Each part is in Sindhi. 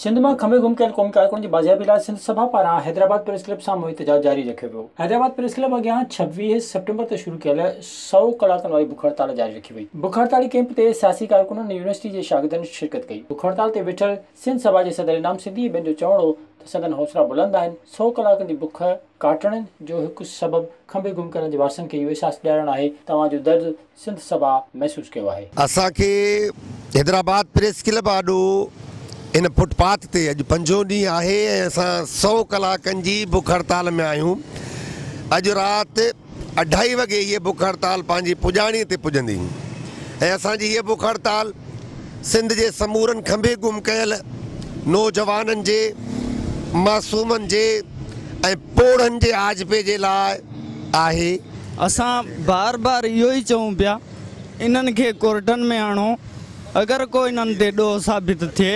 سنڌ مان کمي گم ڪيل قومي ڪارڪن جي بازيابي لاء سنڌ سڀا پاران حيدرآباد پريس ڪلب سامهون احتجاج جاري رکيو ويو. حيدرآباد پريس ڪلب اڳيان ڇويهه سيپٽمبر تي شروع ڪيل سؤ ڪلاڪن واري بک هڙتال جاري رکي وئي. بک هڙتالي ڪيمپ تي سياسي ڪارڪنن ۽ يونيورسٽي جي شاگردن شرڪت ڪئي. بک هڙتال تي ويٺل سنڌ سڀا جي صدر انعام سنڌي ۽ ٻين جو چوڻ هو ته سندن حوصلا بلند آهن، سؤ ڪلاڪن جي بک ڪاٽڻ جو هڪ سبب کمي گم ڪيلن جي وارثن کي اهو احساس ڏيارڻ آهي ته اوهان جو درد سنڌ سڀا محسوس ڪيو آهي. اسان کي حيدرآباد پريس ڪلب آڏو هن فٽ پاٿ تي اڄ پنجون ڏينهن آهي ۽ اسان سؤ ڪلاڪن جي بک هڙتال ۾ آهيون. اڄ رات اڍائي وڳي هيء بک هڙتال پنهنجي پڄاڻي تي پڄندي ۽ اسان جي هيء بک هڙتال سنڌ جي سمورن کنڀي گم ڪيل نوجوانن جي، معصومن جي ۽ پوڙهن جي آجپي جي لاء آهي. اسان بار بار اهو ئي چئون پيا انهن کي ڪورٽن ۾ آڻو اگر ڪو انهن تي ڏوهه ثابت ٿئي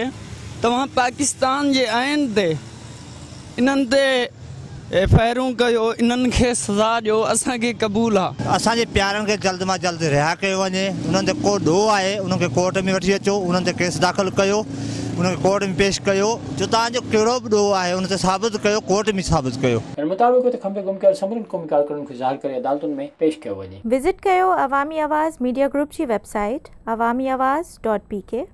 توهان پاڪستان جي آئين تي انهن تي ايف آء آرون ڪيو انهن کي سزا ڏيو اسان کي قبول آ. اسان جي پيارن کي جلد مان جلد رها ڪيو وڃي انهن تي ڪو ڏوهه آهي انهن کي ڪورٽ ۾ وٺي اچو انهن تي ڪيس داخل ڪيو انهن کي ڪورٽ ۾ پيش ڪيو جو توهان جو ڪهڙو به ڏوهه آهي ان تي ثابت ڪيو ڪورٽ ۾ ثابت ڪيو. ان مطابق هت کمبي گم ڪيل سمورين قومي ڪارڪنن کي ظاهر ڪري عدالتن ۾ پيش ڪيو وڃي. وزٽ ڪيو عوامي آواز ميڊيا گروپ جي website Awami Awaz dot P ڪي.